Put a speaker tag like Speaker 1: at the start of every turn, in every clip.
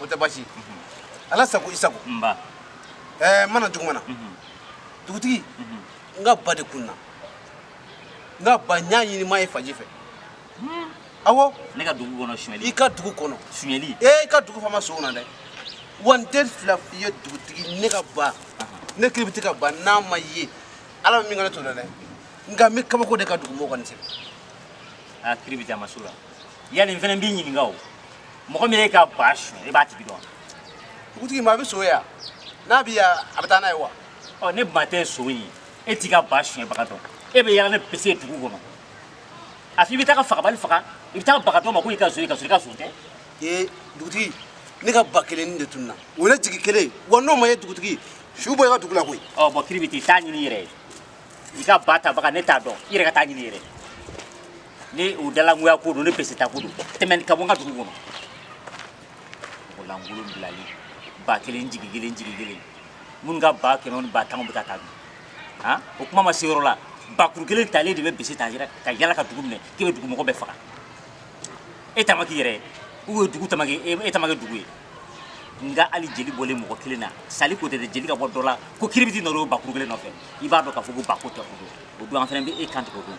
Speaker 1: o tɛ basi ala sago i
Speaker 2: sago ɛɛ ma
Speaker 1: na juguman na dugutigi n ka ba de kun na n ka ba n y'a ɲini n m'a ye fan si fɛ awɔ ne ka dugu kɔnɔ
Speaker 2: suɲɛli i ka dugu
Speaker 1: kɔnɔ suɲɛli ee i
Speaker 2: ka dugu
Speaker 1: fama son na dɛ wa n tɛ fila f'i ye dugutigi ne ka ba ne kiribiti ka ba n'a ma ye ala bɛ min ka ne to dɛ nka n bɛ kabako de kɛ dugumɔgɔ kɔni sɛbɛn a kiribiti a ma s'o la
Speaker 2: yali n fana b'i ɲininka o mɔgɔ min y'i ka ba suɲɛ e b'a tigi dɔn dugutigi maa
Speaker 1: bɛ son ye yan n'a bɛ yan a bɛ taa n'a ye wa ɔ ne ba tɛ
Speaker 2: son ye e t'i ka ba suɲɛbaga dɔn e bɛ yala ni bese dugu kɔnɔ a fɔ i bɛ taa ka fagabali faga i bɛ taa baga dɔ ma ko i ka son ye ka sɔrɔ i ka son tɛ ee
Speaker 1: dugutigi ne ka ba kelenni de tununna o ye ne jigi kelen ye wa n'o ma ye dugutigi su bɔ i ka dugu la koyi ɔ bɔn kiribiti taa ɲini
Speaker 2: i yɛrɛ ye i ka ba tabaga ne t'a dɔn i yɛrɛ ka taa ɲini i yɛrɛ ye ni o dalangoya ko don ni bese ta ko don tɛmɛn i ka bɔ n ka dugu kɔnɔ o lankolon bilali ba kelen jigi kelen jigi kelen minnu ka ba kɛmɛ ni ba tan bɛ ka taa dun han o kuma ma se yɔrɔ la bakuru kelen talen de bɛ bese ta ka yala ka dugu minɛ k'e bɛ dugumɔgɔ bɛɛ faga e tama k'i yɛrɛ ye u ye dugu tama kɛ e tama kɛ dugu ye nga hali jeli bɔlen mɔgɔ kelen na sali ko tɛ dɛ jeli ka bɔ dɔ la ko kiribiti nɔ don o bakuru kelen nɔfɛ i b'a dɔn k'a fɔ ko ba ko tɛ o don o don an fana bɛ e kan tigɛ o don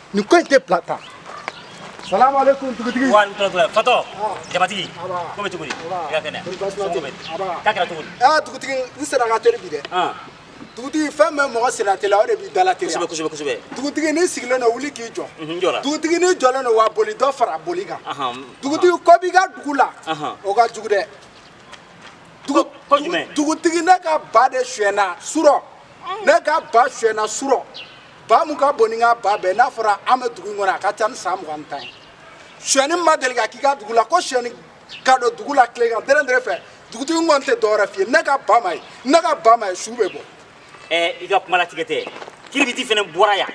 Speaker 1: nin ko in tɛ bila tan salamu aleykum dugutigi wa aleykum salaam
Speaker 2: fatɔ jamatigi ko bɛ cogo di i ka kɛnɛ somɔgɔw bɛ k'a kɛra cogo di aa dugutigi n senna
Speaker 1: ka teri bi dɛ dugutigi fɛn bɛ mɔgɔ senna teliya o de b'i dala teliya kosɛbɛ kosɛbɛ kosɛbɛ dugutigi
Speaker 2: n'i
Speaker 1: sigilen don wuli k'i jɔ n jɔra dugutigi
Speaker 2: n'i jɔlen don
Speaker 1: wa boli dɔ fara boli kan dugutigi ko b'i ka dugu la o ka jugu
Speaker 2: dɛ dugutigi ne ka ba
Speaker 1: de suyɛnna surɔ ne ka ba suyɛnna surɔ ba mun ka bon ni n ka ba bɛɛ n'a fɔra an bɛ dugu in kɔnɔ a ka ca ni san mugan ni tan ye suyɛni ma deli ka k'i ka dugu la ko suyɛni ka don dugu la tilegan dɛrɛ dɛrɛ fɛ dugutigi n kɔni tɛ dɔwɛrɛ f'i ye ne ka ba ma ye ne ka ba ma ye su bɛ bɔ. ɛɛ i ka
Speaker 2: kuma latigɛ ten kiribiti fana bɔra yan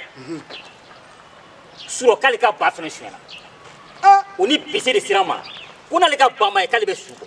Speaker 2: surɔ k'ale ka ba fana suyɛna o ni bese de sera n ma ko n'ale ka ba ma ye k'ale bɛ su bɔ.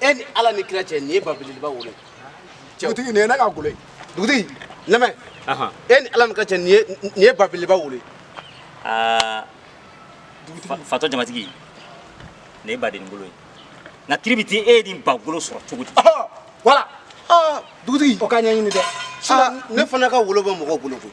Speaker 2: e
Speaker 1: ni ala ni kira cɛ nin ye ba beleba wolo dugutigi nin ye ne ka golo ye dugutigi lamɛn e ni ala ni kira cɛ nin ye ba beleba wolo aa
Speaker 2: fatɔ jamatigi nin ye baden golo ye nka kiribiti e ye nin ba golo sɔrɔ cogo di
Speaker 1: wala dugutigi o ka ɲɛɲini dɛ ne fana ka wolo bɛ mɔgɔw bolo koyi